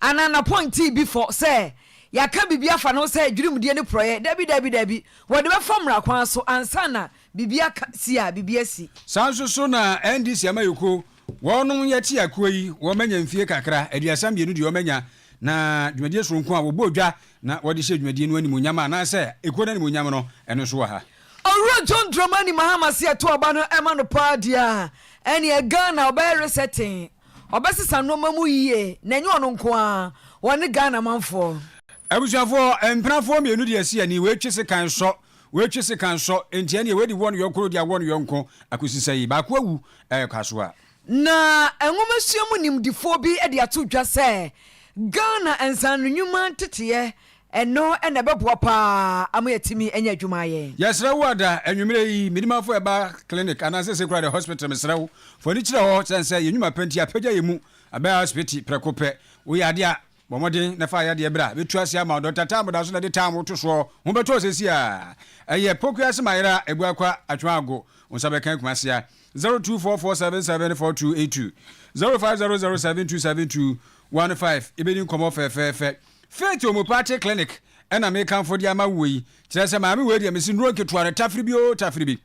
Ananapɔn tii bi fɔ sɛ yɛaka biribi afa ne ho sɛ dwirimdie ne porɔeɛ. Dabi, dabi, dabi. Wɔde bɛfa mmara kwan so ansa na biribi aka si a biribi asi. Saa nso so na NDC amayɛkuo, wɔnom yɛte akuo yi, wɔmanya mfie kakra, aduasa mmienu deɛ wɔmanya, na dwumadie sononko a wɔbɔɔ dwa na wɔde hyɛɛ dwumadie no animuonyam anaasɛ ekuo no animuonyam no, ɛno nso wɔ ha. Owura John Dramani Mahama se ɛto aba no ɛma no paa deɛ a, ɛneɛ Ghana ɔbɛyɛ resetting. Ɔbɛsesa nnoɔma mu yie na ɛnyɛ ɔno nko ara, ɔne Ghana manfoɔ. Abusuafoɔ, mpenafoɔ mmienu de asi ani, wɔatwi sekan sɔ, wɔatwi sekan sɔ, enti ɛnneɛ wɔadi wɔn yɔnko de awɔ ne yɔnko akosi sɛ yi baako awu ɛrekɔ asoa. Na nwomasua mu nimdefoɔ bi de ato dwa sɛ Ghana nsaanonwuma nteteɛ Ɛno na ɛbɛboa paa ama yɛatumi anya adwuma ayɛ. Yɛsrɛ wo ada anwumerɛ yi me dimafo ɛba clinic anaa sese koraa de hospital mesrɛ wo fa w'ani kyerɛ hɔ sɛn sɛ yɛn nwuma pɛ nti apagya yɛn mu abɛn asopiti prɛko pɛ wo yɛ adeɛ a bɔ mmɔden na fa yadeɛ bra bɛtu ase ama wo Doctor Tam da so na ɛde Tam wo to soɔ ho bɛtɔ sɛsi a ɛyɛ poku ase ma yera ɛbu akwa atwa ago wo nsa bɛka kumase a 0244774282 0500727215 yɛbɛdi nkɔmmɔ fɛfɛɛfɛ. Faith Omupaakye Clinic na mekamfo de ama wo yi. Kyerɛ sɛ maame wei deɛ mese nnuro nketewa no tafere bi oo tafere bi.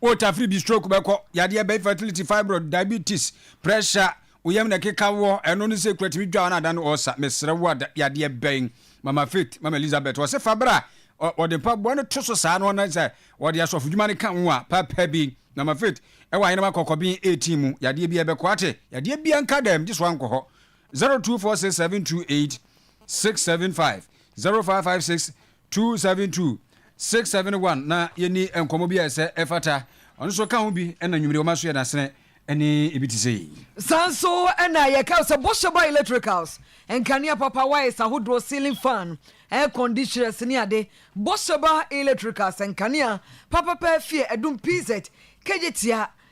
Wo tafere bi stroke bɛkɔ, yadeɛ bɛn fertility, fibroid, diabetes, pressure, wo yam na ɛkeka woɔ, ɛno no sei kura tumi dwa wo na adane ɔɔsa. Mesrɛ wo ada, yadeɛ bɛn? Mama Faith, Mama Elizabeth, ɔse fa bra. Ɔde mpaboa no to so saa na ɔnane sɛ ɔde asɔfo dwuma no ka ho a, papa bi. Mama Faith, ɛwɔ ayenem akɔkɔben 18 mu, yadeɛ biara bɛkɔ, ate? Yadeɛ biara nka dɛm, gye sɛ woankɔ hɔ. Zero two four six seven two eight six seven five zero five five six two seven two six seven one na yɛni nkɔmmɔ bi a ɛsɛ ɛfata ɔno nso ka ho bi ɛna nwumire wɔn aso yɛ dasene ɛne ebi te sɛ yi. Saa nso ɛna yɛka sɛ bɔhyɛ ba electricals nkanea papa wires ahodoɔ ceiling fan air conditioners ne ade bɔhyɛ ba electricals nkanea papa paa fie ɛdum pz kegye tia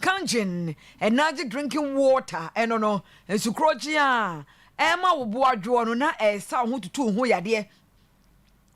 Kangen, energy drinking water, ɛno no, nsukorɔgye a ɛma wo bo adwoɔ no na ɛresa wo ho tutu wo ho yadeɛ,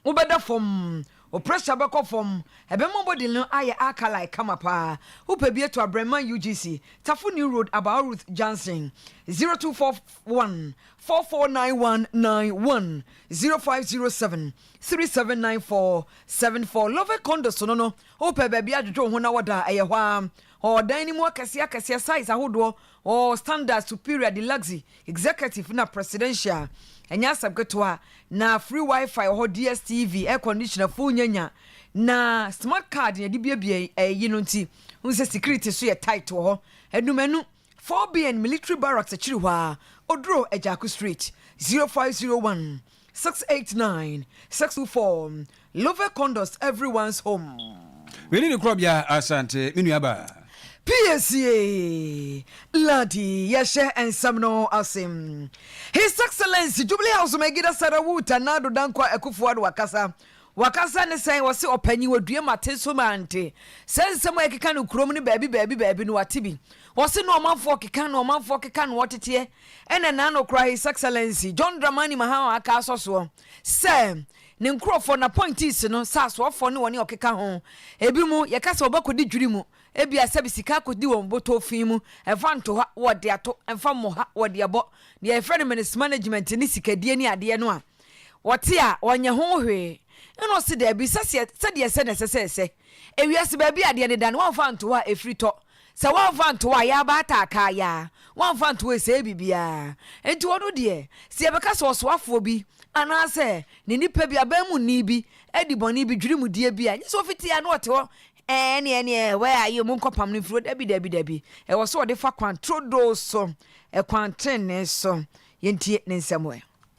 wobɛda fam, wo pressure bɛkɔ fam, ɛbɛma wo body no ayɛ alkali kama paa. Wopɛ bi to a Brɛman UGC, Tafo New Road, Abao Ruth Junction, 0241 449191, 0507 379474. Love Condos no no, Wopɛ baabi adwodwo wo ho na wɔda a, ɛyɛ hɔ ara. Ɔɔ dan no mu akɛseɛ akɛseɛ, size ahodoɔ, ɔɔ standard, superior, deluxe, executive na presidential. Ɛnyɛ asɛm ketewa. Na free WiFi wɔ hɔ, DSTV, air conditioner, full nyanya. Na smart card na yɛde buebue ɛyi no nti wohu sɛ security nso yɛ tight wɔ hɔ. Anumanu, 4BN military barracks akyiri hɔ ara, Oduro, Agyako Street, 0501. Six eight nine six two four Love condos everyone's home. Wei ne ne korɔbea Asante me nua baa. PACA Ladi yɛhyɛ nsɛm no ase. His Excellency Jubilee House Megida Sarawu Tanado Dankwa Akufo-Addo akasa Wakasa ne sɛn? Ɔse ɔpanyin ɔdue mate so mante saa nsɛm a ɛkeka no kurom no baabi baabi baabi no wate bi ɔse no ɔmanfoɔ keka no ɔmanfoɔ keka no ɔteteɛ ɛna naano koraa his excellency John Dramani Mahama aka asɔ soɔ sɛ ne nkurɔfoɔ n'appointees no sɛ asoɔfoɔ ne wɔne ɔkeka ho ebi mu yɛka sɛ wɔbɛkɔdi dwiri mu ebia sɛbi sika akɔdi wɔn botɔɔ fi mu ɛmfa nto ha wɔde ato ɛmfa mmɔ ha wɔde abɔ deɛ yɛfrɛ no menes management ne sikadie ne adeɛ no a wɔte a wɔnyɛ ho hwee. Ɛnna ɔse, Dabi, sɛseɛ, sɛdeɛ ɛsɛ na ɛsɛ sɛ ɛsɛ. Ewiase baabi a adeɛ deda no, woamfa anto hɔ a, ɛfiri tɔ. Sɛ woamfa anto hɔ a, yɛ aba ata akaa, yɛ a, woamfa anto hɔ a, ɛsɛe biribiara. Enti ɔno deɛ, sɛ yɛbɛka sɛ ɔsoafoɔ bi, anaasɛ ne nipa bi, aban mu ni bi, adi bɔne bi, dwiri mu deɛ bi a, nyɛ sɛ ɔfiti a na ɔte hɔ, Ɛɛ, ɛnneɛ, ɛnneɛ, where are you, monkɔpam no mfiri hɔ. Dabi, dabi, dabi. Ɛwɔ sɛ ɔde fa kwan trodoo so, ɛkwan tenenee so. Yɛntie ne nsɛm ɛ.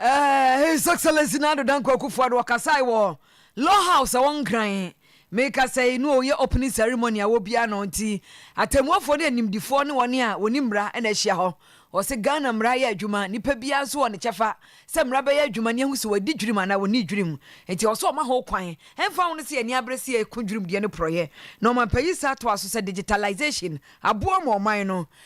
Ɛɛ, His Excellency Nado Dankwa Akufo-Addo ɔkasae wɔ Law House ɛwɔ Nkran. Me kasɛi no ɔyɛ opening ceremony a wɔbia no nti atɛmmuafoɔ ne animdifoɔ ne wɔn a wɔnim mmara na ahyia hɔ. Ɔse Ghana mmara yɛ adwuma, nnipa biara nso wɔ ne kyɛfa sɛ mmara bɛyɛ adwuma ne ahu sɛ wɔadi dwirim anaa wɔnnii dwirim. Nti ɔse ɔma ho kwan ɛmfa ho no sɛ yɛne abere sɛ yɛko dwirimdeɛ ne porɔeɛ na ɔmampanyinsa toa so sɛ digitalisation aboa ma ɔman no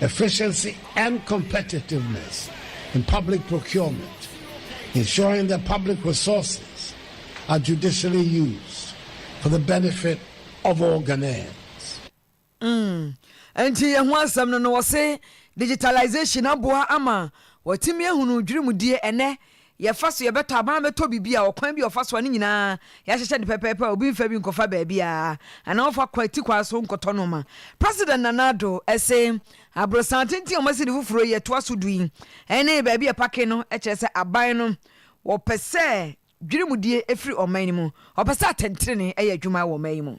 efficiency and competitiveness in public procurement, ensuring that public resources are judicially used for the benefit of all Ghanaians. Mm. Nti yɛn ho asɛm no no wɔse digitalization aboa ama wɔatumi ahunu dwirimdie ɛnɛ Yɛfa so yɛbɛtɔ anaa wɔabɛtɔ biribi a, ɔkwan bi a wɔfa so a ne nyinaa yɛahyehyɛ no pɛpɛɛpɛ a obi mfa bi nkɔfa baabiara anaa ɔmfa kɔ atikwan so nkɔtɔ nneɛma. President Nana Addo se aborosan tenten a wɔasi no foforo yi a ɛtoa so du yi ne baabi a ɛpake no kyerɛ sɛ aban no wɔpɛ sɛ dwirimdie firi ɔman no mu, wɔpɛ sɛ atɛntrenee yɛ adwuma wɔ ɔman yi mu.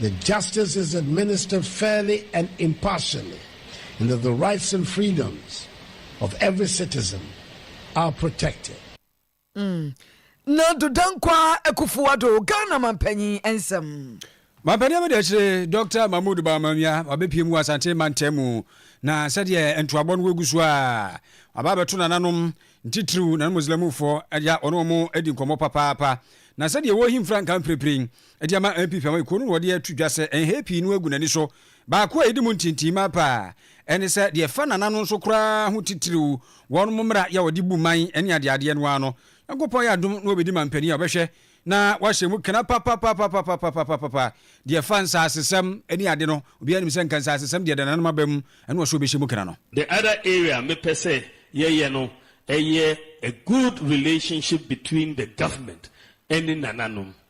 The justice is administered fairly and impartially and that the rights and freedoms of every citizen are protected. Mm. Nado Dankwaa Akufo-Addo, Ghana mampanyin nsɛm. Mampanyin abɛda akyire Dr. Mahmood Bawumia wabɛpie mu wɔ Asante mantam mu na sɛdeɛ ntoabɔ no wɔgu so a aba abɛto nananom ntitiriw nanom Muslimfoɔ agya ɔne wɔn adi nkɔmmɔ papaapa na sɛdeɛ wɔrehi mfrankaa mprempren de ama MP Fiamah kuo no na ɔde ato dwa sɛ nhɛɛ pii no agu n'ani so. Baako a ɛdi mu ntintin ma paa ɛne sɛ deɛ ɛfa Nana no nso koraa ho titiriw, wɔnom mmara yɛ a wɔde bu man ne adeadeɛ no ara no, Nyankopɔn ayɛ adom na ɔbɛdi mampanin a ɔbɛhwɛ na wahyɛ mu kena papapapapapapapapapa. Deɛ ɛfa nsaasesɛm ne ade no, obiara nim sɛ nka nsaasesɛm deɛ ɛda Nana no aba mu ɛne ɔsɛ ɔbɛhyɛ mu kena no. The other area a mepɛ sɛ yɛyɛ no ɛyɛ a good relationship between the government ɛne Nananom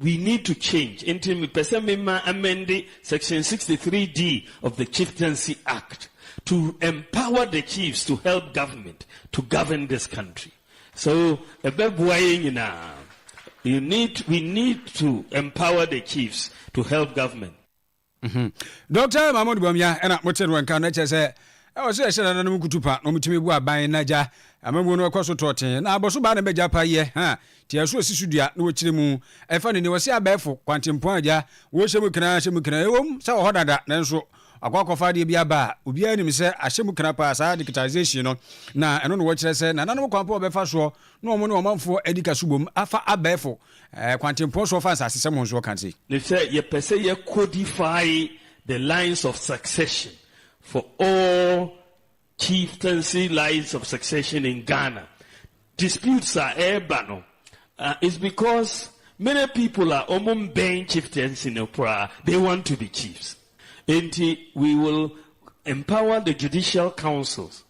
We need to change nti mepɛ sɛ me ma amɛnde section 63D of the Chieftaincy Act to empower the chiefs to help government to govern this country. So ɛbɛboa yɛn nyinaa. You need, we need to empower the chiefs to help government. Mhmm Doctor Mahmoud Bawumia ɛna mo te no nka no na kyerɛ sɛ ɛwɔ sɛ yɛhyɛ nananom nkutu pa na wɔn tumi bu aban na gya amamuo no ɛkɔ so tɔɔtee na abɔso baa na ɛbɛ gya pa yɛ ha te ɛso esi so dua na wɔkyerɛ mu ɛfa ne ni wɔse abɛɛfo kwantempɔn a gya wɔhyɛ mu kena hyɛ mu kena ɛwom sɛ wɔ hɔ dada nanso wakɔ akɔfa adeɛ bi aba a obiara nim sɛ ahyɛ mu kena paa saa digitization no na ɛno na wɔkyerɛ sɛ nananom kwan pa wɔbɛfa soɔ Na wɔn ne ɔmanfoɔ adi ka so bom afa abɛɛfo kwantempɔn so ɔfa nsasesɛm ho nso ɔka se. Ne sɛ yɛpɛ sɛ yɛ codify the lines of succession for all chieftaincy lines of succession in Ghana. Disputes a ɛreba no is because many people a wɔn mmɛn chieftaincy no koraa they want to be chiefs. Enti we will empower the judicial councils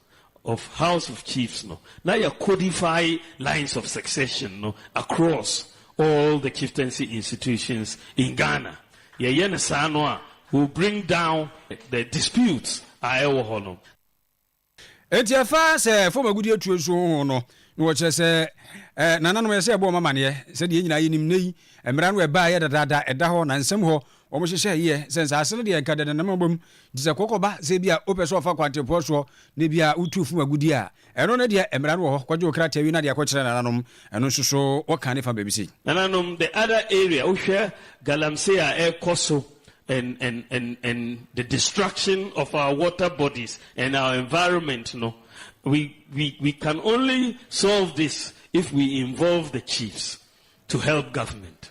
of House of Chiefs no na yɛ codify lines of succession no across all the chieftaincy institutions in Ghana. Yɛ yɛ no saa no a will bring down the disputes a ɛwɔ hɔ no. Enti ɛfa sɛ fam agudeɛ tuo nso ho no, na wɔkyerɛ sɛ nananom ɛsɛ yɛbɔ wɔn amaneɛ. Sɛdeɛ yɛn nyinaa yɛnim nnɛ yi, mmara no ɛbaeɛ dadaada ɛda hɔ na nsɛm hɔ Wɔn hyehyɛ yie sɛ nsaase no deɛ nka dɛdɛ na mabom nti sɛ kɔkɔba sɛ bi a wopɛ sɛ ɔfa kwantepoɔ soɔ na bi a wotu funu agudie a ɛno no deɛ mmara no wɔ hɔ kɔgye wo krataa wie na deɛ kɔkyerɛ nananom ɛno nso so wɔka ne fa baabi sei. Nananom the other area wohwɛ galamsey a ɛkɔ so and and and and the destruction of our water bodies and our environment no we we we can only solve this if we involve the chiefs to help government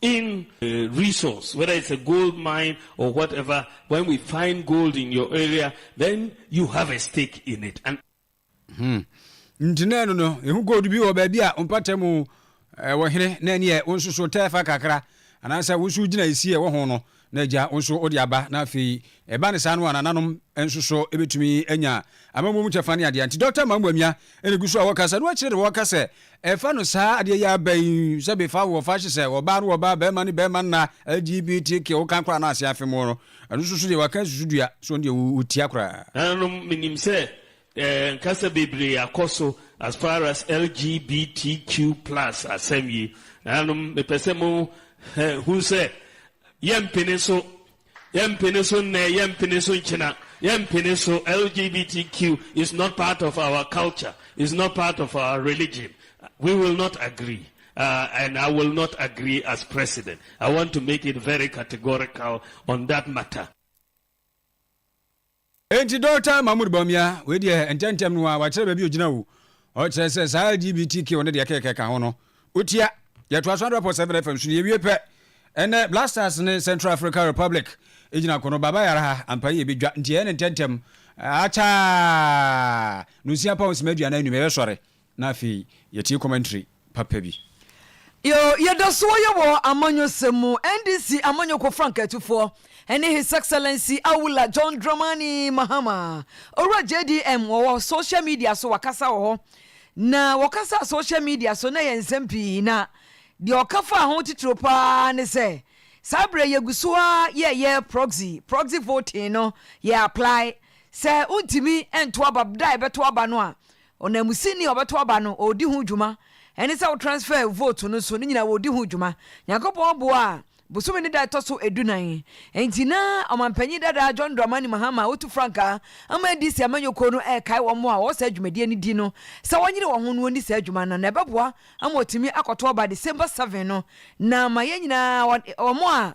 in resource whether it's a gold mine or whatever when we find gold in your area then you have a stake in it and. Hmm. nti na ɛno no ehu gold bi wɔ baabi a mpata mu ɛwɔ hene na ɛneɛ wo nso so tɛɛfa kakra anaasɛ wo nso gyina esi ɛwɔ ho no na agya nso de aba, na afei ɛba no saa no a nananom nso so bɛtumi anya amammuo mu kyɛfa ne adeɛ. Nti Dɔkta Mamu Amia na ɛgu so a wɔkasa, na wɔakyerɛ deɛ wɔka sɛ ɛfa no saa adeɛ yi aba yi, sɛ befa wɔ fa hye sɛ ɔbaa no ɔbaa, bɛrima ne bɛrima nna, LGBTQ, woka koraa na ase afe mo no, ɛno nso so deɛ wɔaka susudua, so ɔno deɛ wɔtia koraa. Nananom, menim sɛ Eh nkasa bebree akɔ so as far as LGBTQ plus asɛm yi. Nanom me pɛ sɛ mo eh, hu sɛ yɛ mpene so, yɛ mpene so nnɛ, yɛ mpene so nkyena, yɛ mpene so LGBTQ is not part of our culture, is not part of our religion. We will not agree. Uh, and I will not agree as president. I want to make it very categorical on that matter. Enti Dɔkta Mahmoud Bawumia, wei deɛ ntɛmntɛm no ara wakyerɛ baabi a ɔgyina o. Ɔkyerɛ sɛ saa LGBTQ ne deɛ ɛkeka ɛka ho no, ɔtia. Yɛtoa so 100.7 FM so no yɛwie pɛ. Ɛnnɛ, Black Stars ne Central Africa Republic gyina ko no, Baba Yara ha, ampa yi yɛbɛdwa. Nti ɛyɛ ne ntɛmntɛm. Akyɛaa! Nonsia pa ho sima aduanan nnum, yɛbɛsɔre. Na afei yɛtie commentary papa bi. Yoo yɛdasoɔ yɛ wɔ amanyɔsɛm mu NDC amanyɔkuo frankatufoɔ ɛne His Excellency Awula John Dramani Mahama Owura JDM wɔwɔ social media so wakasa wɔ hɔ na wɔkasa social media so na ɛyɛ nsɛm pii na deɛ ɔka faa ho titiro paa ne sɛ saa berɛ yɛgu so ara yɛyɛ proxy proxy voting no yɛ apply sɛ wontumi nto aba da a ɛbɛto aba no a Ɔnanmusini a ɔbɛto aba no, ɔredi ho dwuma. Ɛne sɛ wo transfer vote no nso, ne nyinaa wɔredi ho dwuma. Nyankopɔn boa a, bosome no da a ɛtɔ so adunan, enti na Ɔmampanyin dada John Dramani Mahama a ɔtu frankaa ama NDC amanyɔkuo no rekae wɔn a wɔwɔ saa dwumadie no di no sɛ wɔnyere wɔn ho na wɔnni saa adwuma no na ɛbɛboa ama wɔatumi akɔto aba December seven no na ama yɛn nyinaa wɔn a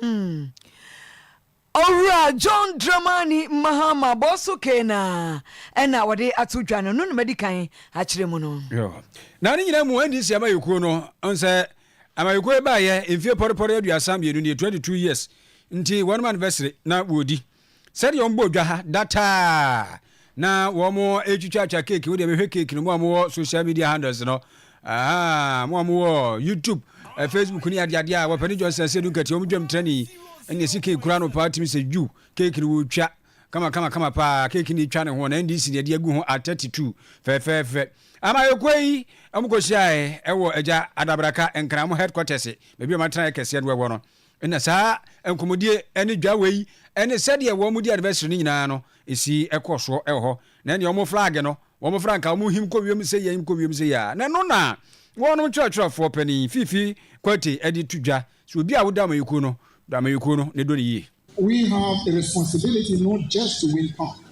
Mm. Owura John Dramani Mahama Bosso Keenah na wɔde ato dwa no, no na madi kan akyerɛ mu no. Yo. Na ne nyinaa mu NDC amayɛkuo no, ɔn sɛ amayɛkuo yi baayɛ mfie pɔrepɔre aduasa mmienu nie, 22 years, nti wɔnom anniversary na wɔredi. Sɛdeɛ wɔn bɔ dwa ha da taa na wɔn ɛtwitwatwa cake wo deɛ mehwɛ cake no mo a mowɔ social media handles no aha mo a mowɔ YouTube eh, Facebook ne adeade a wɔpɛne Johnson sɛ du nkati wɔn dwam trani ɛne ɛsi cake kura no paa tumi sɛ ju cake no wɔtwa kama kama kama paa cake no twa ne ho na NDC ne ɛde agu ho at 32 fɛfɛɛfɛ ama ɛkɔ yi wɔn kɔhyiaɛ ɛwɔ agya adabraka nkramo headquarters baabi a wɔatena ɛkɛseɛ no ɛwɔ no Ɛna saa nkɔmmɔdie ɛne dwa wei ɛne sɛdeɛ wɔn di anniversary no nyinaa no ɛsi ɛkɔ soɔ ɛwɔ hɔ. Na ɛneɛ wɔn flag no wɔn frankaa wɔn him kɔ wiem sei ɛhim kɔ wiem sei a, na ɛno na wɔnom twerɛtwerɛfoɔ panin Fifi Quartey ɛde to dwa sɛ obi a wodɔ amanyɔkuo no dɔ amanyɔkuo no na ɛdɔ no yie. We have a responsibility not just to win power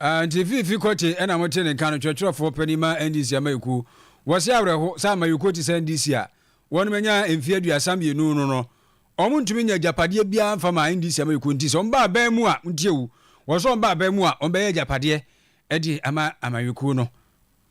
Ah, nti fi fi kɔte ɛna mo te ne nka no kyerɛkyerɛfoɔ panin ma NDC amayɛkuo. Wɔse awerɛho sɛ amayɛkuo te sɛ NDC a wɔnom anya mfeɛ aduasa mmienu no no wɔn ntumi nya agyapadeɛ biara mfa ma NDC amayɛkuo nti sɛ wɔn ba aban mu a ntie o wɔse wɔn ba aban mu a wɔn bɛyɛ agyapadeɛ de ama amayɛkuo no.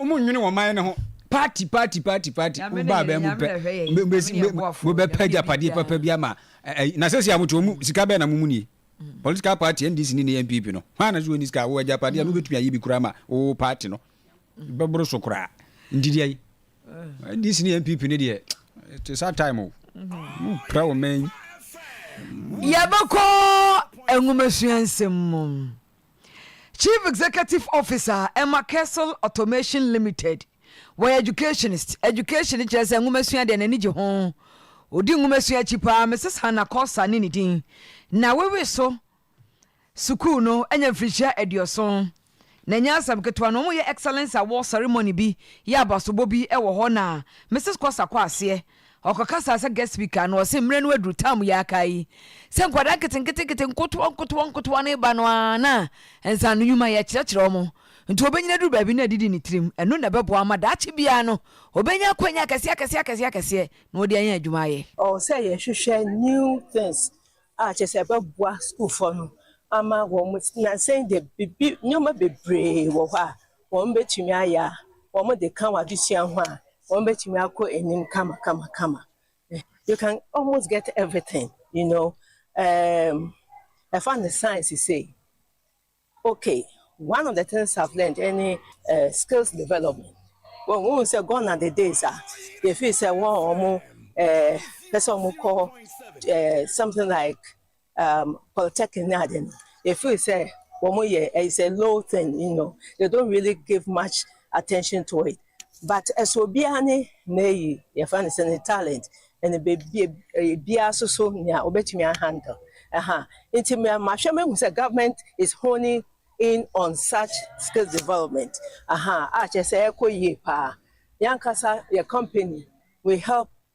Ɔmo nnwene wɔn man no ho. Party party party party wo ba abɛn mu pɛ mo bɛ pɛ agyapadeɛ papa bi ama ɛyi na sɛsi a mo te wɔn mu sika bɛn na mo mu nie mm. political party NDC ne ne NPP no hwan na so wɔn sika wɔ agyapadeɛ a no mm. bɛtumi ayɛ bi koraa ma wɔ party no mm. bɛboro so koraa nti deɛ yi eh. NDC ne NPP ne deɛ te saa time o mm-hmm. mo pira wɔn mɛn. yɛbɛkɔ nwomasua nsɛm mu. Chief Executive Officer a ɛma Kessel Automation Limited, wɔyɛ educationist, education kyerɛ sɛ nwomasua deɛ n'ani gye ho, ɔdi nwomasua akyi paa, Mrs Hannah Korsah ne ne din, na wawi so sukuu no anya mfirihyia aduɔson, na ɛnyɛ asɛm ketewa na wɔyɛ Excellence Award Ceremony bi yɛ abasobɔ bi wɔ hɔ na Mrs Korsah kɔ aseɛ Ɔkɔkasaa sɛ guest speaker no, ɔse mmerɛ no aduru, tam yi aka yi, sɛ nkwadaa nketenketenkete nkotoɔ nkotoɔ nkotoɔ no reba no ara na nsaanonwuma yɛ kyerɛkyerɛ wɔn, nti ɔbɛnyini aduru baabi na adidi ne tirim, ɛno na ɛbɛboa ama daakye biara no ɔbɛnya akwanya akɛseɛ akɛseɛ akɛseɛ akɛseɛ na ɔde anya adwuma ayɛ. Ɛwɔ sɛ yɛhwehwɛ new things a kyerɛ sɛ ɛbɛboa sukuufoɔ no ama wɔn, nansa yi deɛ biribi, nneɛma bebree wɔ hɔ a wɔbɛtumi ayɛ a wɔde ka wɔn adesua ho a, wɔbɛtumi akɔ anim kamakamakama. You can almost get everything, you know, um, ɛfa ne science sei. Okay, one of the things I've learned any uh, skills development. Well, we say gone are the days ah, if you say one or more, uh, person more call uh, something like um, polytechnic ne ade no, yɛfiri sɛ wɔn yɛ ɛyɛ sɛ low thing, you know, they don't really give much attention to it. But ɛsɛ obiara ne n'ayi yɛfa ne sɛ ne talent ɛne bebie biara so so nea obetumi ahandle ɛha. Nti mahwɛ mahu sɛ government is honing in on such skills development aha a kyerɛ sɛ ɛkɔ yie paa. Yankasa yɛ company we help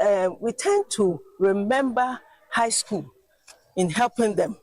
um we tend to remember high school in helping them.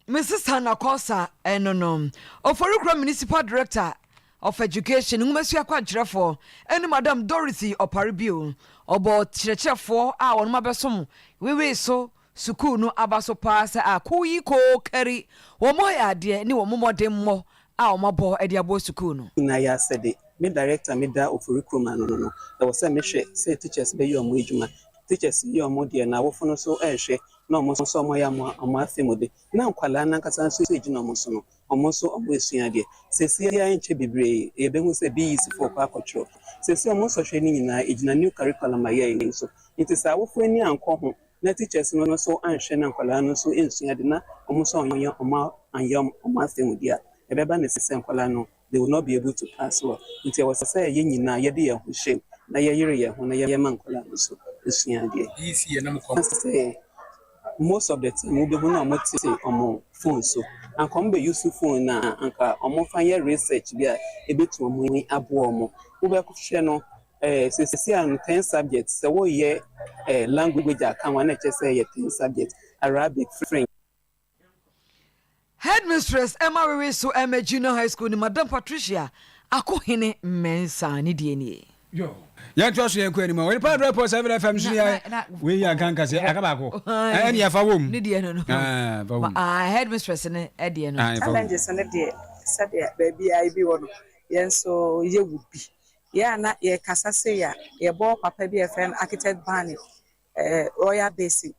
Mrs. Hannah Kosa ɛno no Oforikura Municipal Director of Education nwomasua kwankyerɛfoɔ ɛne Madam Dorothy Ɔpare bio ɔbɔ kyerɛkyerɛfoɔ a wɔn abɛsom wewee so Sukuu no aba so paa sɛ a kuw yi koo kari wɔn ayaadeɛ ne wɔn mmɔdemmɔ a wɔn abɔ de aboa sukuu no. Na yɛ asɛ de, me director a me da ofori kurom ano no no, ɛwɔ sɛ me hwɛ sɛ teachers bɛ yɛ wɔn adwuma. Teachers yɛ wɔn deɛ na awofo no nso ɛɛhwɛ na wɔn nso wɔn ayɛ wɔn afe mu de, na nkwadaa no ankasa nso ɛgyina wɔn so no, wɔn nso wɔn ɛsua adeɛ. Seesei ara ɛnkyɛ bebree yɛ bɛ hu sɛ BEC foɔ kɔ akɔ twerɛ. Seesei wɔn nsɔhwɛ no nyinaa ɛgyina new curriculum a yɛ yɛ no so. Nti sɛ awofo ani ankɔ ho Na teachers no nso anhwɛ na nkwadaa no nso nsua ade na wɔn nso anyɛ wɔn anyɛ wɔn asanmudi a, ɛbɛba ne sɛ nkwadaa no they will not be able to pass well. Nti ɛwɔ sɛ yɛn nyinaa yɛde yɛn ho hyɛ mu na yɛyere yɛn ho na yɛma nkwadaa no nso sua adeɛ. Na sɛ most of the time wobɛhu na wɔn te wɔn phone so, anka wɔn bɛ use phone no a anka wɔn fa nyɛ research bi a ɛbɛtumi aboa wɔn. Wobɛhwɛ no Eh, sɛ sisi a no ten subjects, sɛ woyɛ eh, language a ka ho a na ɛkyɛ sɛ yɛ ten subjects, Arabic, French. Headmistress Emma Wewe so Emma Junior High School ne Madam Patricia Akohene Mensah ne deɛ nie. yɛntoa so yɛnkɔ anim a onipa adrɛ pɔ 7 fm so yɛ wei yɛ nka nka sɛ aka baako ɛne yɛfa wɔ mu ne deɛ no no headmistress no ɛdeɛ no challenges no deɛ sɛdeɛ baabi a ebi wɔ no yɛn nso yɛwɔ bi Yɛ a na yɛkasa sei a, yɛbɔɔ papa bi a yɛfrɛ no Architect Barney, ɛɛ Royal Basin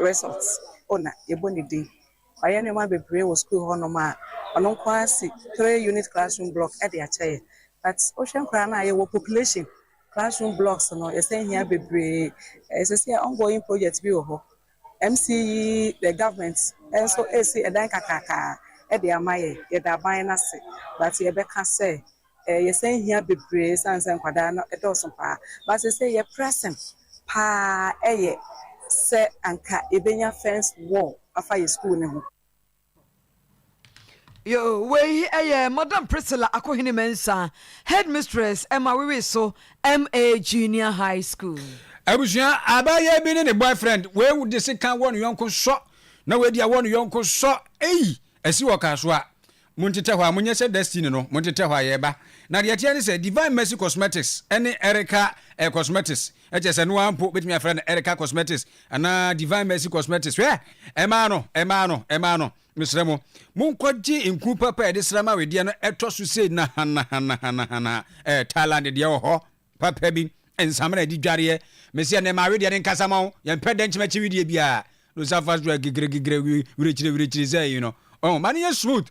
Resort owner, yɛbɔ ne din. Wayɛ nneɛma bebree wɔ sukuu hɔ nom a, ɔno nko ara asi three unit classroom block de akyɛ yɛn. But wohwɛ koraa no a, yɛwɔ population, classroom blocks no yɛsan hia bebree. Ɛɛ seesei ongoing project bi wɔ hɔ MCEE government nso resi ɛdan kakraka de ama yɛn, yɛda aban no ase but yɛbɛka sɛ yɛsan hia bebree ɛsiane sɛ nkwadaa no dɔɔso paa but seesei yɛn pressing paa yɛ sɛ anka yɛbɛnya fence wall afa yɛn sukuu no ho. Yo, wei yɛ Madam Priscilla Akohene Mensah, Headmistress ɛma Wiwi so MA Junior High School. Abusua, abaayewa bi ne ne boyfriend, wei de sekan wɔ ne yɔnko sɔ, na wei de awɔ ne yɔnko sɔ, ei, asi wɔ car so a, mo ntetɛ hɔ a, mo nyɛ sɛ Destiny no, mo ntetɛ hɔ a, yɛreba. Na deɛ ɛteɛ ne sɛ, Divine Mercy Cosmetics ne Erica Cosmetics, Ɛkyerɛ sɛ noaa mpo bɛtumi afrɛ no Erica Cosmetics anaa Divine Mercy Cosmetics. Hwɛ! Ɛmaa no! Ɛmaa no! Ɛmaa no! Mesrɛ mo, monkɔgye nku papa a yɛde sram awedeɛ no ɛtɔ so sei nahanahanahanahanaha, ɛɛ Thailand deɛ wɔ hɔ papa bi, nsamena ɛdi dwareɛ. Mese ɛnnɛ ma awedeɛ no nkasa ma wo, yɛmpɛ dɛnkyɛm akyi wedeɛ biara. No surface dry gigregigre wirekyiriwirekyiri sɛ yi no. Ɔho, ma no nyɛ smooth.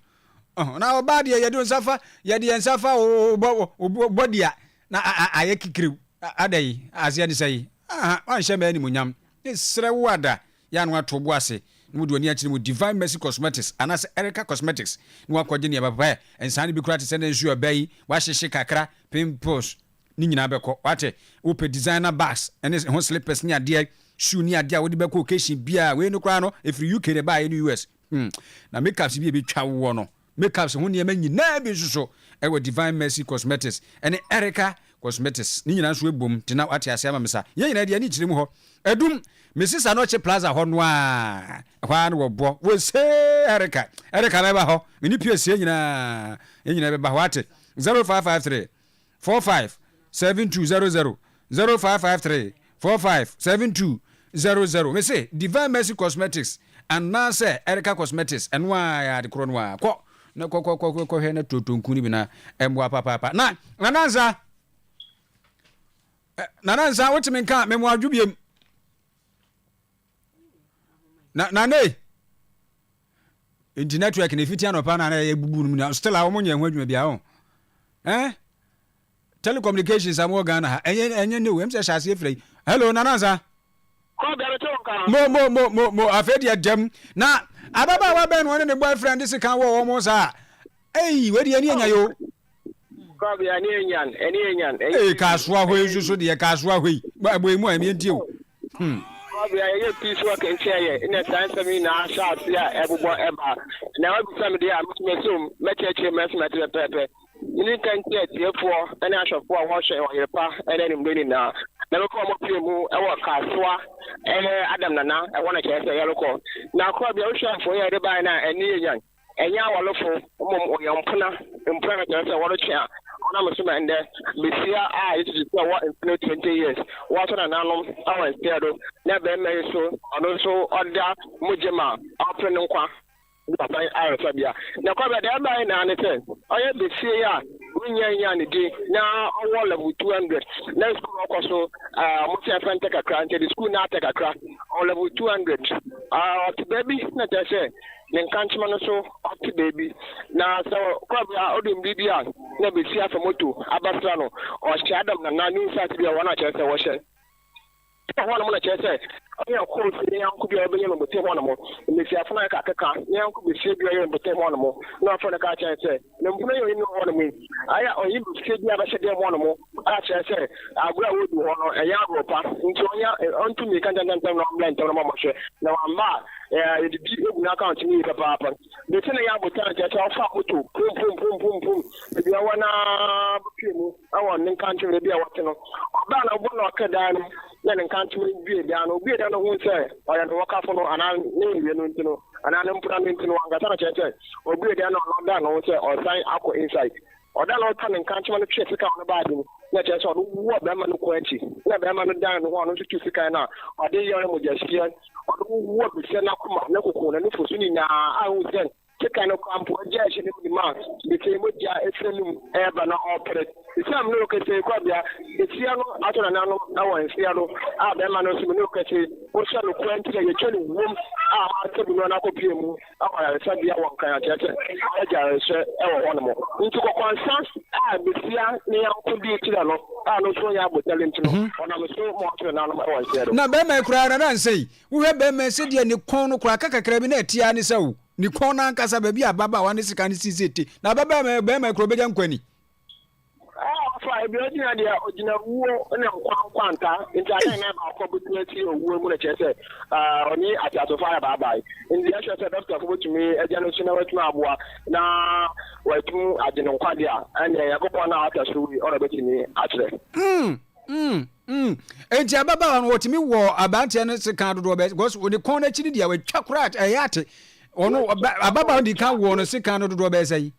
Ɔho, na ɔbaa deɛ yɛde nsa fa, yɛde yɛn nsa fa wo bɔ, wo bɔ, wo bɔ dia na a, a, ayɛ kikiriw. A Ada yi, aseɛ ne sɛi, aha, wanhyɛ me animuonyam, me srɛ wo Ada, yɛ a na wato wo bo ase, na wode w'ani akyerɛ mu Divine Mercy Cosmetics anaasɛ Erica Cosmetics na woakɔgye nneɛma papa ɛ, nsaa no bi koraa te sɛ na nsuo a ɛba yi, woahyehye kakra, pimples ne nyinaa bɛkɔ, wate, wopɛ designer bags ne ɛho slippers ne adeɛ, shoe ne adeɛ a wode bɛkɔ occasion biara, wei no koraa no, ɛfiri UK na ɛbaeɛ ne US, hmm, na makeups bi a ɛbɛtwa woɔ no, Makeups ho nneɛma nyinaa bi nso so wɔ Divine Mercy Cosmetics ne Erica Cosmetics. Ne nyinaa nso bom nti na woate ase ama me sa. Yɛn nyinaa deɛ ani kyerɛ mu hɔ. Adum, me sesa no ɔkye plaza hɔ no ara. Ɛhɔ ara na wɔbɔ. Wosee Erica. Erica mɛba hɔ. Me ne Pierce yɛn nyinaa. Yɛn nyinaa bɛba hɔ. Woate? 0553. four five seven two zero zero zero five five three four five seven two zero zero mese divine mercy cosmetics anaasɛ ɛreka cosmetics ɛno a yɛ ade korɔ no a kɔ na kɔkɔkɔhwɛ na turotonku no bi na ɛmmoa papaapa na nanansa nanansa wotumi nka memoadwo biem na na ne nti network na efiti anɔpa na na ebubu no mu na still a wɔn nyɛ ho adwuma bi ahɔ ɛn telecommunications amu wɔ ghana ha ɛnyɛ ɛnyɛ ne o ɛmu sɛ hyɛase efira yi hello nanansa. mo mo mo mo mo afei deɛ dɛm na ababaawa bɛn na ɔne ne boyfriend si kan wɔ wɔn saa. Ei wei deɛ ɛne yɛ nyan o. Kɔbi ɛne yɛ nyan ɛne yɛ nyan. Ee kaasoa hɔ yi nso so deɛ kaasoa hɔ yi bɔ ɛbɔ emu a ɛmi nti o. Hmm. Kɔbi a yɛyɛ peace work nkyɛn yɛ ɛna saa nsɛm yi na ahyɛ ase a ɛbobɔ ɛba. Na wabisa mi deɛ a mo tuma som mɛkyerɛkyerɛ mu ɛsɛ mɛte pɛpɛɛpɛ. Mene nka nti atiefoɔ ɛne ahwɛfoɔ a wɔhwɛ ɔyerepa ɛne animdɛ nyinaa. Na bɛkɔ wɔn pie mu ɛwɔ kaasoa ɛne Adam Nana ɛhɔ na kyerɛ sɛ yɛrekɔ. Na kɔbi a wohwɛ mfoni a yɛde baeɛ no a ɛne yɛ nyan. Ɛnyɛ awarefo, mmom wɔyɛ mpena, mpena no kyerɛ sɛ wɔretwe a wɔnam so ma ɛnnɛ basia a Yesu susuw sɛ ɔwɔ mfe no 20 years wɔato nananom wɔ nseɛ do na barima yi so ɔno nso ɔda mu gye ma ɔpere ne nkwa de papa yi ayaresabea. Nokwarem no, nea ɛbae nyinaa ne sɛ ɔyɛ basia yi a wonnya nnyaa ne din na ɔwɔ level 200 na sukuu no ɔkɔ so a wɔsɛ ɛfɛntɛ kakra nti ɛde sukuu no atɛ kakra ɔwɔ level 200 a ɔte baabi na kyerɛ sɛ ne nkankyema no so ate baabi, na sɛ kwabere a ɔde mmere bi a na ebesi afa moto abasra no, ɔhyɛ Adam nana ne nsase bi a wɔn a kyerɛ sɛ wɔhyɛ te hɔnom na kyerɛ sɛ ɔne ɔkɔɔ si ne yanko bi a ɔbɛyɛ no bote hɔnom, mmesiafo no a ɛka keka ne yanko besia bi a ɔyɛ no bote hɔnom, na ɔfrɛ no ka kyerɛ sɛ. Na mpo na ɛyɛ ɔhene hɔ nom ayɛ a ɔhene bɛfie bi abɛhyɛ dɛm hɔ nom a kyerɛ sɛ agorɔ a wɔredi hɔ no ɛnyɛ agorɔ pa nti ɔnya ɔntu mmirika ntɛntɛntɛm na ɔmmra ntɛm na ma ɔmɔhwɛ na wamma a yɛde bi egu n'akaunt mu yi papaapa bɛsi na yɛ abotan kyerɛ sɛ ɔfa moto pum pum pum pum pum ebi a wɔn a bɛpie mu ɛwɔ ne nkankyem ebi a wɔte no ɔbaa na ɔbɔ na ɔka dan no na ne nkankyem bie dan no obie dan no ho sɛ ɔyɛ ne wɔkafo no anaa ne nwie no nti no anaa ne mpona no nti no ankasa na kyerɛ sɛ Obuee dan no ano no, ɔdaa no ho sɛ ɔresan akɔ inside. Ɔdaa no ho kaa ne nkankyema no twee sekan no baa ase mu, na ɛkyerɛ sɛ ɔno wu wɔ barima no kɔn akyi. Ɛnna barima no dan ne ho a ɔno nso tuu sekan no a ɔde yɔɔ no mogyahwieɛ. Ɔno wu wɔ biritia n'akoma, ne koko, n'anufo so nyinaa a ɛhu sɛ sekan no koraa mpo agyaa ahyɛ ne mu ma biritia mogya firi n'anom reba na ɔrepere. Esiam ne ɔkɛsɛe kwabea, biritia no atɔ n'ananom wɔ nsea no a barima no nso mu ne ɔkɛsɛe, ɔhyɛ no kwan nti na yɛatwa no wuom a wɔasabu no no akɔpue mu. akɔ ayaresabea wɔ Nkran akyerɛ sɛ n'agya rehwɛ wɔ hɔnom. Enti kɔkɔansa a besia ne yɔnko dii kyerɛ no a no nso nyɛ abotare nti no, wɔnam so ma wɔtoo nanom wɔ nseɛ do. Na bɛrima yi koraa na na nsɛn. Wohwɛ bɛrima yi sɛdeɛ ne kɔn no koraa ka kakra bi na ɛte ara ne sɛ o, ne kɔn no ankasa baabi a ababaawa ne sekan no sii sɛ ɛte. Na ababaawa bɛrima yi koraa ɔbɛgya nkwa ni. Ɛɛ ɔfa ebi ogyina deɛ ogyina wuo ne nkwa nkwanta nti adeɛ na ɛba akɔ bɛtumi akyiri owuo mu na kyerɛ sɛ ɔne ateasefo ayɛ baabae nti ɛkyerɛ sɛ dɔktafo bɛtumi agya no so na watumi aboa na watum agye no nkwade a ɛneɛ nyankopɔn no a ɔta so wei ɔna bɛtumi akyerɛ mm, mm, mm. nti ababaawa no wɔtumi wɔ abanteɛ no se ka dodoɔ bɛ because ɔde kɔn no akyi no deɛ watwa koraa ɛyɛ ate ɔno ababaawa no di ka wɔ no se ka no dodoɔ bɛɛ sɛ yi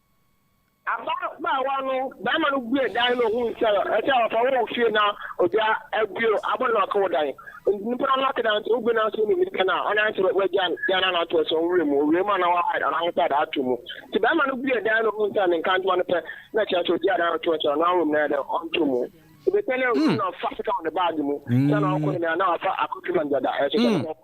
Ababaawa no barima no buee dan no hui sɛ ɛsɛ ɔfa wɔ wo fie na ogya abue abɔ no ɔka wo dan. Nnipa no aka dan sɛ wobue no ansa onii no dɛn a ɔnan sɛ wagya dan no anaa to aso nwura mu, owia mu anaa wahide anaa ho sɛ ato mu. Nti barima no buee dan no hui sɛ ne nkantoma no pɛ na kyerɛ sɛ ogyaa dan no to aso anaa ɔnwura mu na ɛyɛ dɛn ɔntɔ mu. Obetwa na ɔnwura mu na ɔfa sika wɔ ne baage mu sɛ na ɔrekɔ ne nea na wafa akɔtwi mangyada ɛso sɛ ne ho.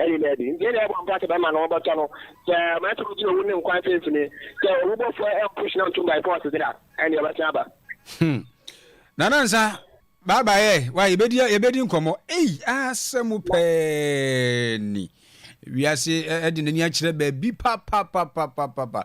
Ɛne daabi. Nti ɛnna yɛbɔ mpae sɛ bɛma no wɔbɛtɔ no. Sɛ mmerante no gyina owu ne nkwa mfimfini, sɛ owu bɔfoɔ ɛmpo hyena ntom by force dze a, ɛnde ɔbɛsan aba. Hmm. Nana Nsa, bye bye ɛ, wa yɛbɛdi yɛbɛdi nkɔmmɔ. Ei, asɛm pɛɛ ni. Wiase ɛde n'ani akyerɛ baabi papapapapapa.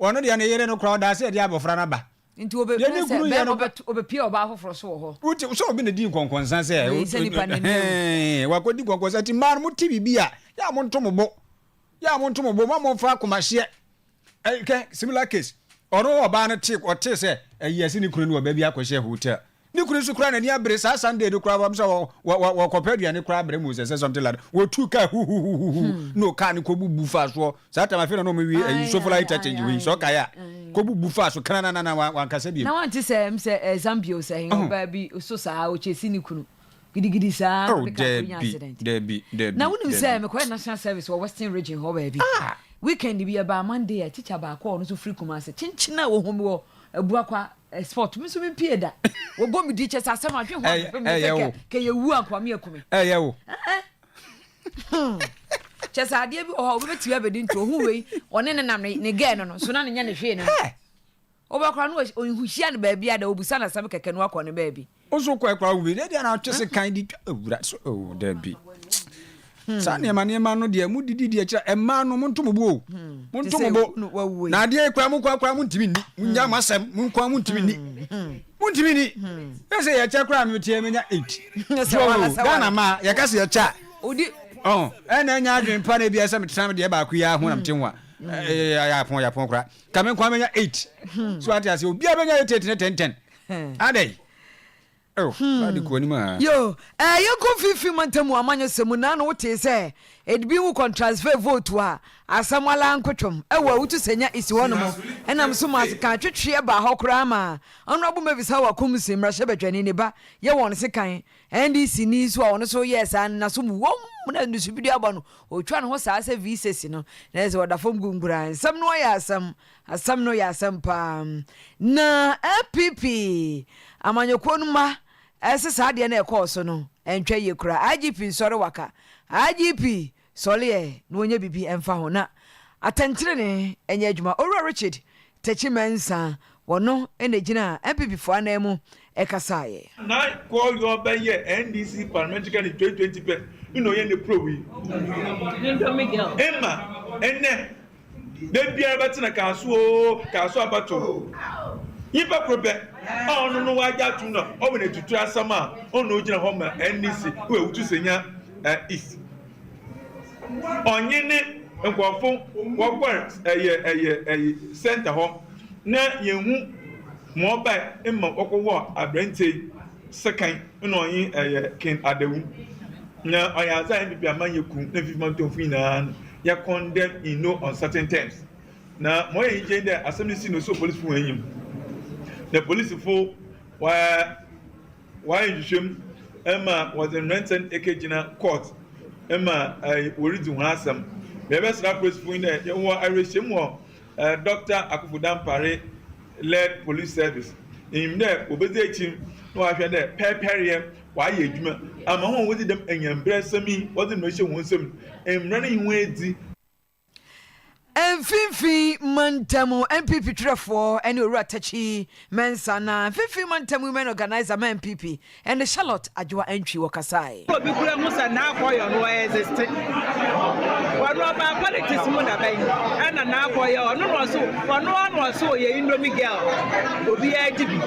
Ɔno deɛ ne yere no kura ɔdaase a ɛde abɔfra no aba. Nti obe Deɛ ne sɛ kunu yɛ bɛrima no kora. ɔbɛto ɔbɛpie ɔbaa foforɔ so wɔ hɔ. Wote sɛ obi na di nkɔnkɔnsa sɛ Wei sɛ nipa na ɛmɛ o. hɛn wakɔdi nkɔnkɔnsa nti mmaa no mo te biribi a yɛ a mo nto mo bo yɛ a mo nto mo bo mma mo nfa akomahyeɛ ɛkɛ similar case ɔno ɔbaa no te ɔte sɛ ɛyɛ sɛ ne kunu ne ɔbaa bi akɔhyɛ hotel Ne kunu nso koraa n'ani abere saa Sunday no koraa wɔn sɛ wɔ wɔ wɔ wɔkɔpɛ aduane koraa brɛ mu sɛ sɛ something like that wɔtuu kaa huhuhuhuhu no kaa no kɔbubu faa soɔ saa tam afei na na wɔn wie ayi sofla interchange wei sɛ ɔkae a kɔbubu faa so krananana wa wankasa biem. Na wante sɛ ɛm sɛ ɛɛ Zambio sɛ ɛyɛ ɔbaa bi so saa ɔkyɛsi ne kunu gidigidi saa na ɔde kaa kɔ nya accident. Dabi dabi. Na wonim sɛ mekɔyɛ national service wɔ western region hɔ baabi weekend bi ɛbaa Monday a teacher baako a ɔno nso firi Kumasi kyenkyen a wɔhome wɔ Abua kwa eh, sport me nso me mpie da. Wɔbɔ me di kyɛ sɛ asɛm ahwe ho ahwehwɛ me sɛ kɛ kɛ yɛwu ankoa me aku me. Ɛyɛ wo. Kyɛ sɛ adeɛ bi wɔ hɔ a wobɛbɛtumi abɛdi nti ɔhu wei ɔne ne nam ne gɛɛ no no so na ne nyɛ ne hwee no no. Wobɛkora no ɔnhuhyia no baabi a da wɔbusa no asɛm kɛkɛ no akɔ ne baabi. Wo so kɔɛ koraa wobɛdi ɛdeɛ na atwe se kan de twa awura so oh, dabi hmm. saa nneɛma nneɛma no deɛ mo didi deɛ kyerɛ ɛmaa no mo nto mo bo o hmm. mo nto mo bo na adeɛ koraa mo koraa koraa mo ntumi ni mo nya hmm. mo asɛm mo koraa mo ntumi ni mo ntumi ni yɛ sɛ yɛkyɛ koraa mi tiɛ mi nya eight so Ghana ma yɛka sɛ yɛkyɛ a ɔn ɛna ɛnya adwene pa na ebi ɛsɛ mi tena mi deɛ baako yi aho na mi ti nwa ɛyɛ ayɛ apɔn yɛ apɔn koraa kame nkwa mi nya eight so ate ase obi a bɛ nya eight eight ne ten ten. Adɛn? Oh, na de kɔ anim aa. Hmm. Yoo, ɛɛ, yɛnkɔ mfimfini mantam mu amanyɔsɛm mu na na wotee sɛ ebi wo kɔntransfɛɛ vootu a asɛm alaa nkotwom ɛwɔ a wotu sɛ nya esi hɔ nom ɛnam so maa sekan atwetweɛ baa hɔ koraa maa Honourable Mavis Hawa Komsi mmarahyɛbadwani ne ba yɛ wɔn sekan NDC ni nso a ɔno nso yɛɛ saa no naso mu wom na nusu bi de aba no otwa ne ho saa sɛ VSASI no na ɛsɛ ɔda fam gu nkuraa nsɛm no ayɛ asɛm Asɛm no yɛ asɛm paa. Na NPP amanyɔkuo no mma se saa adeɛ no a ɛkɔɔ so no ɛntwa yie koraa. IGP nsɔre waka. IGP sɔre ɛ na ɔnyɛ biribi ɛmfa ho na atɛntenenee nyɛ adwuma. Owura Richard Takyi Mensah, ɔno na ɛgyinaa NPP foɔ anan mu ɛkasaeɛ. Nan kor yɔɔ bɛ yɛ NDC parliamentary candidate twenty twenty pɛ nna ɔyɛ ne prow yi. Mma ndɛ da biara bɛtsena kaar so oo kaar so abatow. Nyimpa kor pɛ a ɔno no ɔagye ato mu na ɔwɔ n'etsitsir asɛm a ɔno na ogyina hɔ ma NDC wɔ Awutu Senya East. Ɔnye ne nkorɔfo wɔkɔr ɛyɛ ɛyɛ ɛyɛ centre hɔ na yennhu. Ma ɔbae ma wɔkɔwɔɔ aberantsɛ yi sekan, nna ɔnye yɛ ken adawu, na ɔyɛ adze a hɛn pii ama nye kun na mfifima ntɔnfo nyina no yɛ condemn in no uncertain terms. Na ma ɔyɛ enyigye nye dɛ asɛm no sii na osoo polisifo hɔn enyim, na polisifo wɔayɛ nhwehwɛmu ma wɔdze mberantsɛ no ekegyina court ma woridzi hɔn asɛm. Yɛbɛserɛ apolisifo nye dɛ yɛwɔ awerɛhyɛmu wɔ Doctor Akuffo Dampare led Police Service enyim dɛ wobedzi ekyir na wɔahwɛ dɛ pɛrpɛryɛ wɔayɛ edwuma ama hɔn a wodzi dɛm anyanbrasɛm yi wɔdze no ehyɛ hɔn nsamu no mbra no nye hɔn edzi. Mfinfin Mantam NPP twerɛfoɔ ne Owura Takyi Mensah na Mfinfin Mantam Women Organiser ma NPP Ɛnde Charlotte Adwoa Antwi wɔ kasae. Obi kura mu sɛ Naa Kɔyɔ no ɔ existe. Ɔno ɔbaa politics mu dabɛn ɛna Naa Kɔyɔ ɔno na ɔse ɔno ara na ɔse ɔyɛ indomie girl obiara di bi.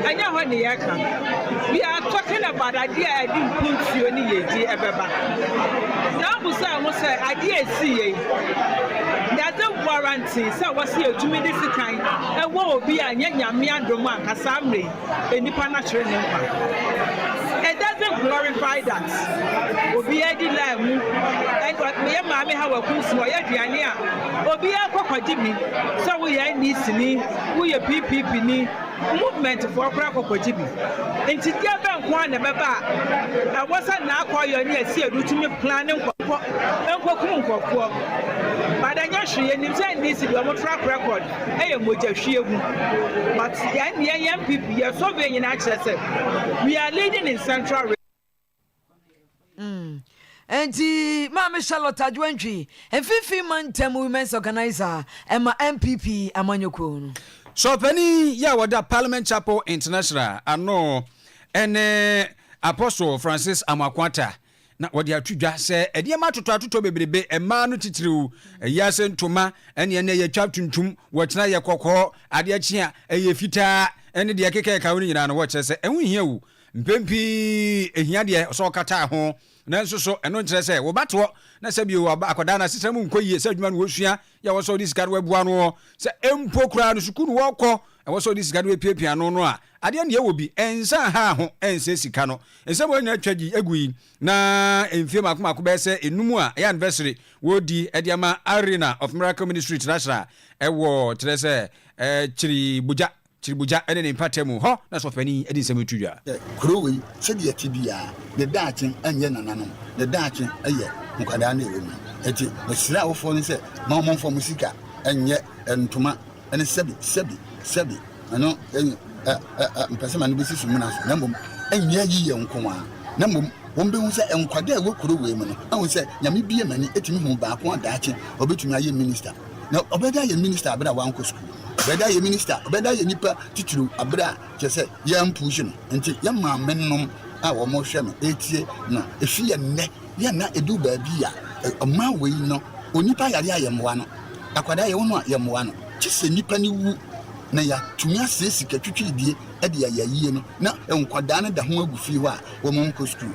Ɛnyɛ hɔ ne yɛka. We are talking about adeɛ a ɛde mpuntuo ne yiedie ɛbɛba. Saa busae ho sɛ adeɛ a ɛsiiɛ yi does it warrant sɛ wɔse yɛtumi de sekan ɛwɔ obi a ɛnyɛ Nyame adom anka saa mmerɛ yi. nnipa na kyerɛ ne nkwa. It doesn't glorify that obiara di laa mu. Yɛ maame ha wɔ kunsi hɔ, yɛ aduane a obiara kɔ kɔgye bi. Sɛ woyɛ NDC ni, woyɛ PPP ni, movement foɔ koraa kɔ kɔgye bi. Nti deɛ bɛn nko ara na ɛbɛba a ɛwɔ sɛ Naakɔyɔ ne Asiedu tumi plan ne nkɔfoɔ nkɔkum nkɔfoɔ. But ɛnyɛ hwee, yɛnim sɛ NDC deɛ wɔn track record. ɛyɛ mogya hwie gu but yɛn deɛ yɛn NPP yɛ survey nyinaa kyerɛ sɛ we are leading in central region. Nti Maame Charlotte Adwoantwi, Mfimfini Mantam Women's Organiser ma NPP amanyɔkuo no. Sɔɔpani yi a wɔda Parliament Chapel International ano ne Apostle Francis Amoako Attah Na wɔde ato dwa sɛ nneɛma atotɔatotɔ bebrebe, mmaa no titiriw, ayi ase ntoma ne ɛnna a ɛyɛ twa tuntum, wɔkyena a ɛyɛ kɔkɔɔ, adeɛ kye a ɛyɛ fitaa, ne deɛ ɛkeka a ɛka ho no nyinaa no, wɔkyerɛ sɛ ɛho nhia wo. Mpɛn pii ɛhia deɛ sɛ ɔkata ho. Nanso so ɛno nkyerɛ sɛ wo ba teɔ na sɛ bio akwadaa no asetra mu nkɔ yie, sɛ adwuma no wɔsua Yɛ ɛwɔ sɛ ɔde sika no boa no sɛ mpo koraa no sukuu no ɔkɔ, ɛwɔ sɛ ɔde sika no piapia ano no a, adeɛ nea ɛwɔ bi, ɛnsa ha ho, ɛnsɛ sika no. Nsɛm a wɔn nyinaa twa gyi gu yi, na mfie mmaako mmaako bɛyɛ sɛ enum a ɛyɛ anniversary wɔredi de ama Arena of Miracle Ministry Trasra ɛwɔ kyerɛ sɛ ɛkyiri bogya. Kyiribugya ne ne mpata mu hɔ na sɔfopanyin de nsɛm reto dwa. Kurow yi, sɛdeɛ ɛte biara, ne daakye nyɛ nananom, ne daakye yɛ nkwadaa na ɛwɔ mu. Enti mesrɛ awofoɔ no sɛ, ma wɔn mfa wɔn sika nyɛ ntoma ne sɛbi sɛbi sɛbi no ɛyi ɛ ɛ ɛ mpɛ sɛ ma no bɛsi sumina so na mmom ɛnyɛ yiyɛ nko ara na mmom wɔn bɛhu sɛ nkwadaa a ɛwɔ kurow wei mu no ahu sɛ Nyame bue m'ani tumi hu baako a daakye ɔbɛtumi ayɛ minista. Na ɔbɛda ayɛ minister aber a ɔannkɔ skuul. Ɔbɛda ayɛ minister, ɔbɛda ayɛ nyimpa tsitsir aber a, kyerɛ sɛ, yɛammpuuhye no. Ntsi yɛma amemnom a wɔrohwɛ no etsie no. Efi yɛ ndɛ, yɛ na edu beebi a, ɔman wei no, onyimpa yare a yɛmboa no, akwadaa yɛwo no a yɛmboa no, gyesɛ nyimpa no wu na yɛatumi asɛɛ sika twitwiidie de ayɛ ayie no na nkwadaa no da ho agu fie hɔ a wɔnnkɔ skuul.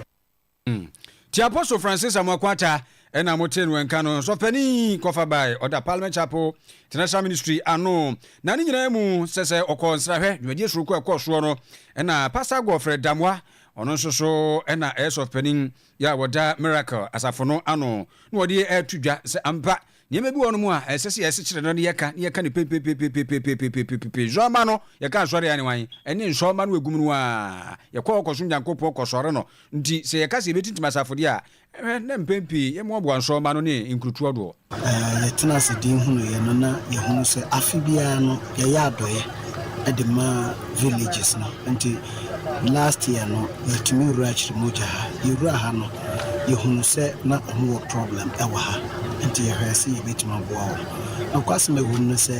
Mm. Nti Apostle Francis Amoako-Atta na mo tee no nka no, Sɔfpanin yi kɔfa bae, ɔda Parliament Chapel, International Ministry ano. Na ne nyinaa mu, sɛ sɛ ɔkɔ nsrahwɛ, dwumadie soronko a ɛkɔɔ soɔ no, ɛna Pastor Godfrey Damoah, ɔno nso so na ɛyɛ Sɔfpanin yɛ a wɔda Miracle Asafo no ano, na wɔde ɛɛto dwa sɛ ampa Nneɛma bi wɔ hɔnom a ɛsɛ sɛ yɛsekyere no na yɛka, na yɛka no pepepepepepepepepepepe. Nsɔremma no, yɛka asɔre a ɛne wan? Ɛne nsɔremma no agum no ara. Yɛkɔ hɔ kɔsom Nyankopɔn, kɔsɔre no. Nti sɛ yɛka sɛ yɛbɛtintim asafo deɛ a, hwɛ na mpɛn pii yɛmmoaboa nsɔremma no ne nkurotoɔ doɔ. Yɛtena ase dinn hunuu yɛ no, na yɛhunu sɛ afe biara no yɛyɛ adɔeɛ. de maa villages no nti last year no yɛtumi wura Kyeremogya ha yɛwura ha no yɛhunu sɛ na ɔmo wɔ problem ɛwɔ ha nti yɛhwɛɛ sɛ yɛbɛtumi aboa wɔn nokwasɛm a ɛwom no sɛ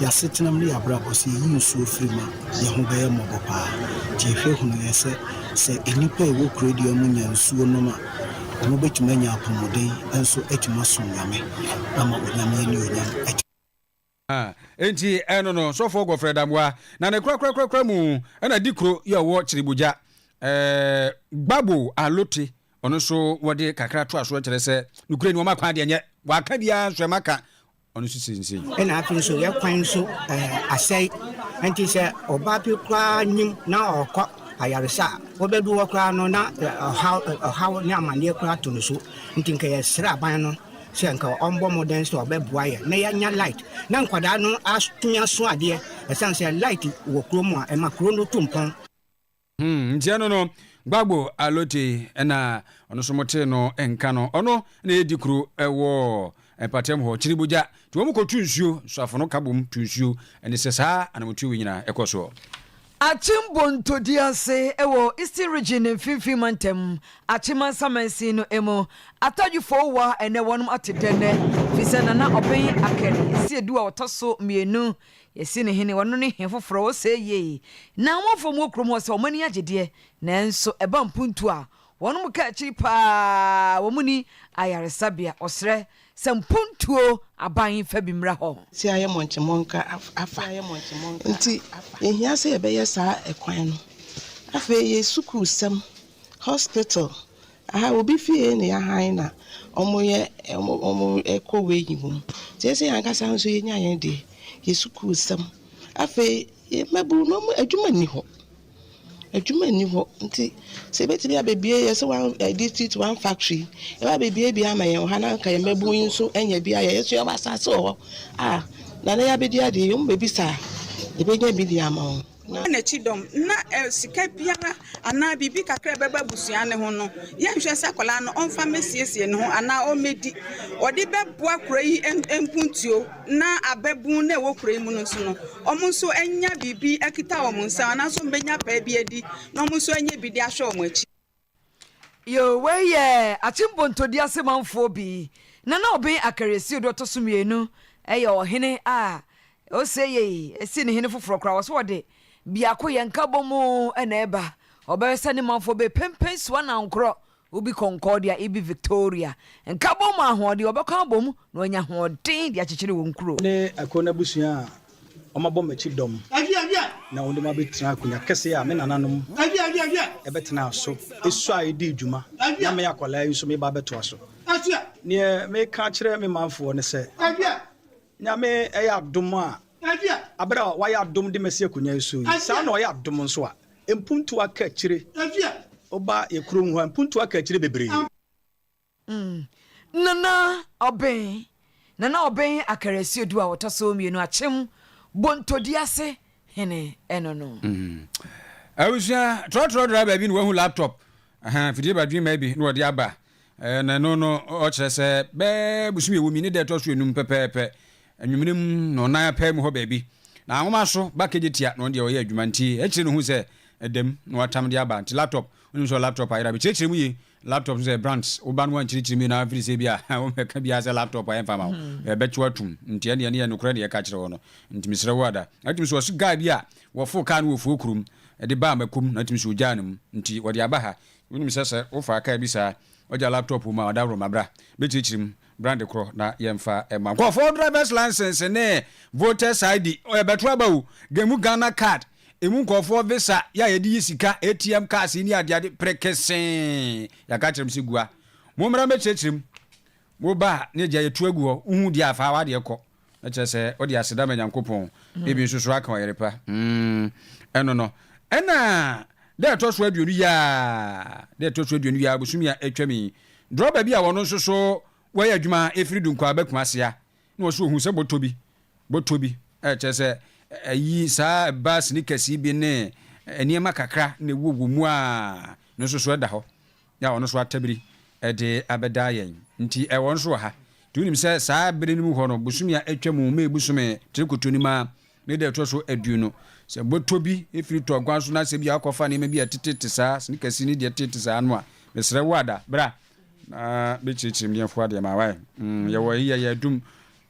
yɛasetenam ne yɛabrabɔ sɛ yɛyi nsuo firi ma yɛn ho bɛyɛ mmɔbɔ paa nti yɛhwɛ hunu yɛ sɛ sɛ nnipa a ɛwɔ kuro dua mu nya nsuo nom a ɔmo bɛtumi anya apɔmuden nso atumi asom nyame ama onyame ne onyam atumi A. Enti ɛno no, Sɔfoɔ Godfred Amoah, na ne korakorakorakora mu na di kuro yi a ɔwɔ Kyiribugya, ɛɛ, Gbagbo Alote, ɔno nso wɔde kakra toa so kyerɛ sɛ, nokorɛ ni, wɔn akwan deɛ nyɛ, wɔaka biara nso ɛma ka, ɔno nso sensɛn. Ɛna afei nso yɛn kwan nso, ɛɛ, asɛe, ɛnti sɛ ɔbaa bi koraa nyim na ɔɔkɔ ayaresa a, wɔbɛdu hɔ koraa no na ɔhaw, ɔhaw ne amaneɛ koraa to no so, nti nka yɛsrɛ aban no sɛ nka ɔmbɔ mmɔden sɛ ɔbɛboa yɛn na yɛanya light na nkwadaa no atumi aso adeɛ ɛsiane sɛ light wɔ kuro mu a ɛma kuro no tu mpɔn. Hmm, ntia no no, Gbagbo Alote na ɔno nso motee no nka no, ɔno na ɛdi kuro wɔ mpatam hɔ, Kyiribogya, nti wɔn kɔtu nsuo, nsuafo no ka bom tu nsuo, ɛne sɛ saa anamotuo wei nyinaa ɛkɔ soɔ. Akyem Bonto di ase wɔ Eastern Region ne Mfinfin Mantam, Akyem Mansa Mansin no mu. Atadwe Four Wa ɛnɛ wɔnom ate dɛ nnɛ fisɛ Nana Ɔben Akari yɛsi Adu a ɔtɔ so mmienu yɛsi no hene wɔno ne he foforɔ ɔsɛɛ yie na amanfoɔ ɔmo wɔ kurom hɔ sɛ ɔmo ani agye deɛ nanso ɛba mpuntuo a wɔnom ka akyiri paa wɔn ni ayaresabea ɔsrɛ Sɛ mpontuo aban fa bi mmra hɔ. Sɛ ayɛ mɔnkyemɔnka afa. Nti yɛhia sɛ yɛbɛyɛ saa ɛkwan no. Afei yɛ sukuusɛm, hospital, aha obi fie na yɛahan na wɔyɛ wɔkɔ wei yi wom. Nti ɛsɛ sɛ yɛn ankasa nso yɛnya yɛn deɛ, yɛ sukuusɛm. Afei yɛ mmabunu no wɔn adwuma nni hɔ. Adwuma nni hɔ nti sɛ ebetumi abebue yɛ sɛ one ɛɛ district one factory ɛba abebuebue ama yɛn wɔ ha na anka yɛn mmabun yi nso anya bi ayɛ. Yɛn nso yɛwɔ asase wɔ hɔ a nana yi abedi adeɛ yi wɔn bebisa a yebenya bi de ama wɔn. Na. Ghana akyi dɔm na ɛɛ sika biara anaa biribi kakra a ɛbɛba abusua no ho no yɛnhwɛ sɛ akwadaa no ɔmfa mmesiesie ne ho anaa ɔmmedi. Wɔde bɛboa kura yi nkuntio. na ababun na ɛwɔ kuro yi mu no nso no, wɔn nso anya biribi akita wɔn nsam anaasɛ wɔbɛnya paa bi adi na wɔn nso anya bi de ahwɛ wɔn akyi. Yo, wei yɛ Akyem Bontodua ase manfoɔ bi. Nana Obeng Akariasio deɛ ɔtɔ so mmienu yɛ ɔhene a ose yei ɛsi ne hene foforɔ koraa wɔso wɔde biakoyɛ nkabɔmu na ɛba ɔbɛwɛ sɛ ne manfoɔ bɛpempen so anankorɔ Obi Concordia ibi Victoria, Nkabom mu ahoɔden, wɔbɛkɔ abɔ mu na wɔanya ahoɔden de akyekyere wɔn kuro. Ne ɛkoro n'abusua a wɔabɔ m'akyi dɔm na wɔde me abɛtena akonnwa kɛseɛ a me nananom bɛtenaa so suae dii dwuma na me akwadaa yi nso meba abɛtoa so. Deɛ mereka akyerɛ me manfoɔ ne sɛ, Nyame yɛ adom a, aber a ɔayɛ adom dze ma si akonnwa yi so yi, saa na ɔyɛ adom so a mpontu aka ekyire oba yɛ kurom ha, mpontu aka ekyire beberee. Mm. Nana Ɔben, Nana Ɔben Akarasiodu a ɔtɔ so mmienu, Akyem Bontodi ase hene no no. Mm. Abusua, trɔtrɔ driver bi na wahu laptop Ahaa, mfidie badwemma bi na wɔde aba, na ɛno no ɔkyerɛ sɛ bɛɛ bosome ɛwɔ mu yi ne da ɛtɔ so enum pɛpɛɛpɛ, anwummere mu na ɔnan apaa mu hɔ baabi, na anwoma so ba kegye tia na ɔno deɛ ɔyɛ adwuma nti akyire no ɔhu sɛ ɛda mu na watam de aba. Nti laptop, wonim sɛ laptop ayera, mekyerɛkyerɛ mu yie, laptop nso sɛ brands, wo ba no ankyerɛkyerɛ mu yie na afiri sɛ bi a wobɛka biara sɛ laptop a ɛmfa ma wo, ɛbɛkye wo atom, nti ɛnneɛ ɛno yɛ nokorɛ na yɛka kyerɛ wo no, nti mesrɛ wo ada. Ɛtumi nso ɔse guy bi a Wɔforo kaa no wɔ Foo kurom de baa Makum na tumi so ogyaa no mu nti wɔde aba ha. Wonim sɛ sɛ wofa car bi saa wagya laptop wɔ mu a ɔdaworoma bra bɛkyirikyiri mu bra de korɔ na yɛmfa mma wo. Nkurɔfoɔ drivers license ne voters ID yɛbɛto aba o, gemu Ghana card, ɛmu nkurɔfoɔ visa yɛ a yɛde yi sika, ATM cars yi ne adeade prekesee. Yɛaka akyerɛ mo sɛ gua. Mommra mmɛkyerɛkyerɛ mu. Wo ba a, na egya yɛtu agu hɔ, wohu deɛ a, fa w'adeɛ kɔ. Na kyerɛ sɛ, wode aseda ma Nyankopɔn. Ebi nso so aka ɔyere pa. Mm, ɛno no. Ɛna, da a ɛtɔ so aduonu yi ara, da a ɛtɔ so aduonu yi ara, bosome a atwam yi, drɔba bi a wɔno nso so wɔyɛ adwuma firi Dunkwaba Kumasea, na ɔse ɔhuu sɛ bɔtɔ bi, bɔtɔ bi, ɛ, kyerɛ sɛ, ayi, saa ɛbaa sneakers yi bi ne nneɛma kakra na ɛwɔ wɔ mu a, no nso so da hɔ. Na ɔno nso atabiri de abɛda yɛn. Nti ɛwɔ nso wɔ ha. Nti wonim sɛ saa bere no mu hɔ no, bosome a atwa mu, May bosome tire kotonim ara, ne da a ɛtɔ so aduonu, sɛ bɔtɔ bi firi tɔ aguan so na sɛ ebia wokɔfa nneɛma bi a ɛtete te saa, sneakers ne deɛ ɛtete saa no a, mesrɛ wo ada, bra na bɛkyerɛkyerɛ mu deɛ mfa w'adeɛ ma wae. Mm, yɛwɔ yi yɛ yɛadum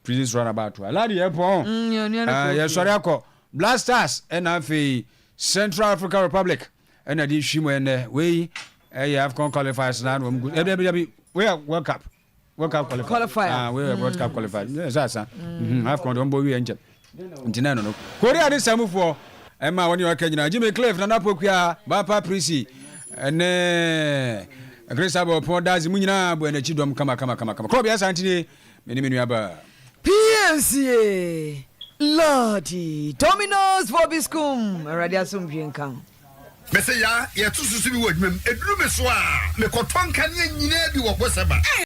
Prisons Runabout hɔ. Aladi yɛpɔn. Mm, yɛsɔre akɔ Black Stars ɛna afei Central African Republic. ɛna de hwi mu ɛnɛ wei ɛyɛ afcon qualifiers na wɔn gu ɛbi ɛbi wei yɛ world cup world cup qualifier qualifier ah wei yɛ world cup qualifier mm. ɛsɛ asa mhm, afcon de wɔn bɔ wiɛ nkyɛn nti na ɛno no korea ne samufoɔ ɛma wɔn yɛ ɔka nyinaa jimmy cliff nana pokua bapa prisi ɛnɛ ɛkiri sábà ɔpɔn dazi mu nyinaa bɔ ɛnɛ kyi dɔm kama kama kama kama kɔɔ bi asanti ni. Me ne me nuabaa. PNCA, Lordy, Dominos Vobiscum, Awurade asomdwoe nka wo. Mese yaa, yɛto so so bi wɔ adwuma mu. Ɛduru me so a, mekɔtɔ nkanea nyinaa bi wɔ Gweseba.